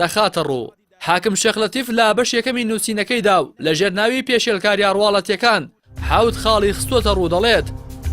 دەخاتە ڕوو. حاکم شێخ لەتیف لە بەش یەکەمی نووسینەکەیدا و لە ژێر ناوی پێشێلکارییە ڕواڵەتییەکان حەوت خاڵی خستووەتە ڕوو دەڵێت،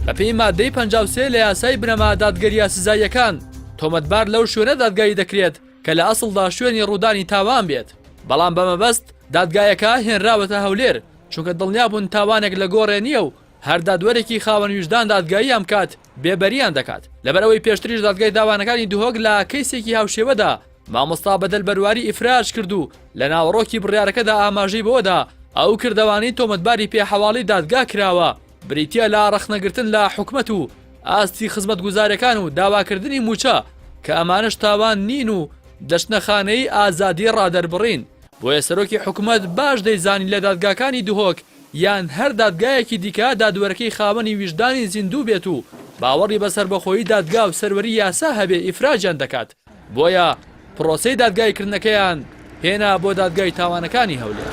بە پێی ماددەی پەنجا و سێ لە یاسای بنەما دادگەرییە سزاییەکان، تۆمەتبار لەو شوێنە دادگایی دەکرێت کە لە ئەسڵدا شوێنی ڕوودانی تاوان بێت، بەڵام بە مەبەست دادگایەکە هێنراوەتە هەولێر، چونکە دڵنیا بوون تاوانێک لە گۆڕێ نییە و هەر دادوەرێکی خاوەن ویژدان دادگاییان بکات، بێبەریان دەکات، لەبەرئەوەی پێشتریش دادگای تاوانەکانی دهۆک لە کەیسێکی هاوشێوەدا مامۆستا بەدەل بەرواری ئیفراج کرد و لە ناوەڕۆکی بڕیارەکەدا ئاماژەی بەوەدا ئەو کردەوانەی تۆمەتباری پێ حەواڵی دادگا کراوە بریتیە لە ڕەخنەگرتن لە حکومەت و ئاستی خزمەتگوزارەکان و داواکردنی موچە کە ئەمانش تاوان نین و دەچنە خانەی ئازادی ڕادەربڕین بۆیە سەرۆکی حکومەت باش دەیزانی لە دادگاکانی دهۆک یان هەر دادگایەکی دیکە دادوەرەکەی خاوەنی ویژدانی زیندوو بێت و باوەڕی بە سەربەخۆیی دادگا و سەروەری یاسا هەبێ ئیفراجیان دەکات بۆیە پرۆسەی دادگایی کردنەکەیان هێنا بۆ دادگای تاوانەکانی هەولێر.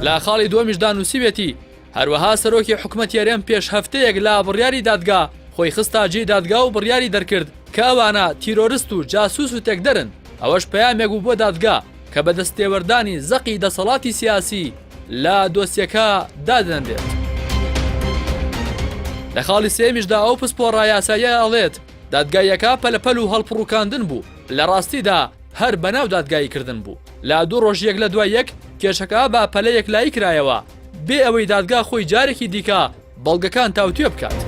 لە خاڵی دووەمیشدا نووسیوێتی، هەروەها سەرۆکی حکومەتی هەرێم پێش هەفتەیەک لە بڕیاری دادگا خۆی خستە جێی دادگا و بڕیاری دەرکرد کە ئەوانە تیرۆرست و جاسوس و تێکدەرن، ئەوەش پەیامێک بوو بۆ دادگا کە بە دەستێوەردانی زەقی دەسەڵاتی سیاسی لە دۆسیەکە دادەنرێت. لە خاڵی سێیەمیشدا ئەو پسپۆڕە یاساییە ئەڵێت، دادگاییەکە پەلەپەل و هەڵپڕوکاندن بوو، لە ڕاستیدا هەر بەناو دادگاییکردن بوو، لە دوو ڕۆژ یەک لە دوای یەک کێشەکە بە پەلە یەکلایی کرایەوە، بێ ئەوەی دادگا خۆی جارێکی دیکە بەڵگەکان تاوتوێ بکات.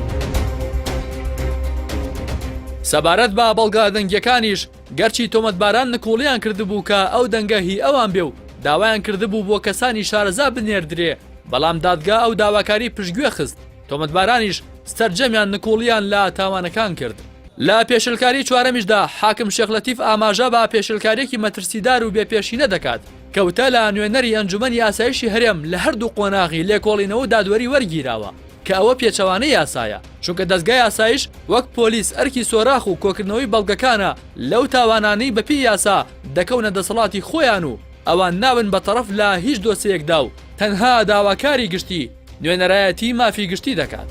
سەبارەت بە بەڵگە دەنگیەکانیش گەرچی تۆمەتباران نکوڵیان کردبوو کە ئەو دەنگە هی ئەوان بێ و داوایان کردبوو بۆ کەسانی شارەزا بنێردرێ بەڵام دادگا ئەو داواکاری پشتگوێ خست تۆمەتبارانیش سەرجەمیان نکوڵیان لە تاوانەکان کرد. لە پێشێلکاری چوارەمیشدا حاکم شێخ لەتیف ئاماژە بە پێشێلکاریەکی مەترسیدار و بێ پێشینە دەکات، کەوتە لە نوێنەری ئەنجومەنی ئاسایشی هەرێم لە هەردوو قۆناغی لێکۆڵینەوە و دادوەری وەرگیراوە کە ئەوە پێچەوانەی یاسایە چونکە دەزگای ئاسایش وەک پۆلیس ئەرکی سۆراخ و کۆکردنەوەی بەڵگەکانە لەو تاوانانەی بەپێی یاسا دەکەونە دەسەڵاتی خۆیان و ئەوان نابن بە تەڕەف لە هیچ دۆسێیەکدا و تەنها داواکاری گشتی نوێنەرایەتی مافی گشتی دەکات.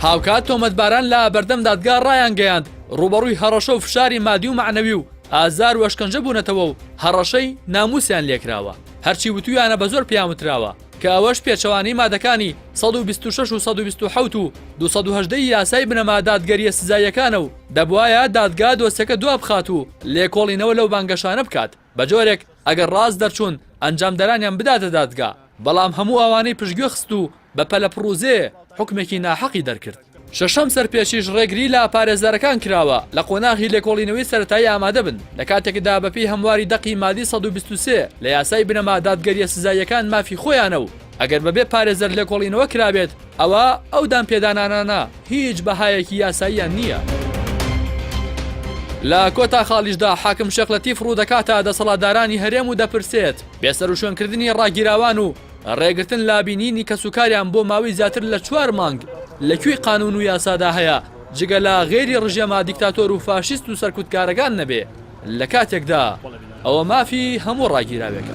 هاوکات تۆمەتباران لە بەردەم دادگا ڕایانگەیاند ڕووبەڕووی هەڕەشە و فشاری مادی و مەعنەوی و ئازار و ئەشکەنجە بوونەتەوە و هەڕەشەی نامووسیان لێکراوە هەرچی وتویانە بە زۆر پێیان وتراوە کە ئەوەش پێچەوانەی مادەکانی 126 و 1970 و 218 یاسای بنەما دادگەریە سزاییەکانە و دەبوایە دادگا دۆسیەکە دوابخات و لێکۆڵینەوە لەو بانگەشانە بکات بەجۆرێک ئەگەر ڕاست دەرچوون ئەنجامدەرانیان بداتە دادگا، بەڵام هەموو ئەوانەی پشتگوێ خست و بە پەلە پڕوزێ حوکمێکی ناحەقی دەرکرد. شەشەم سەرپێچیش ڕێگری لە پارێزەرەکان کراوە لە قۆناغی لێکۆڵینەوەی سەرەتایی ئامادەبن، لە کاتێکدا بەپێی هەمواری دەقی مادی سەد و بیست و سێ لە یاسای بنەما دادگەریە سزاییەکان مافی خۆیانە و ئەگەر بەبێ پارێزەر لێکۆڵینەوە کرابێت ئەوا ئەو دانپێدانانانە هیچ بەهایەکی یاساییان نییە. لە کۆتا خاڵیشدا حاکم شێخ لەتیف ڕوودەکاتە دەسەڵاتدارانی هەرێم و دەپرسێت، بێسەروشوێنکردنی ڕاگیراوان و ڕێگرتن لە بینینی کەسوکاریان بۆ ماوەی زیاتر لە چوار مانگ لە کوێی قانوون و یاسادا هەیە جگە لە غەیری ڕژێمە دیکتاتۆر و فاشیست و سەرکوتکارەکان نەبێ لە کاتێکدا ئەوە مافی هەموو ڕاگیراوێکە.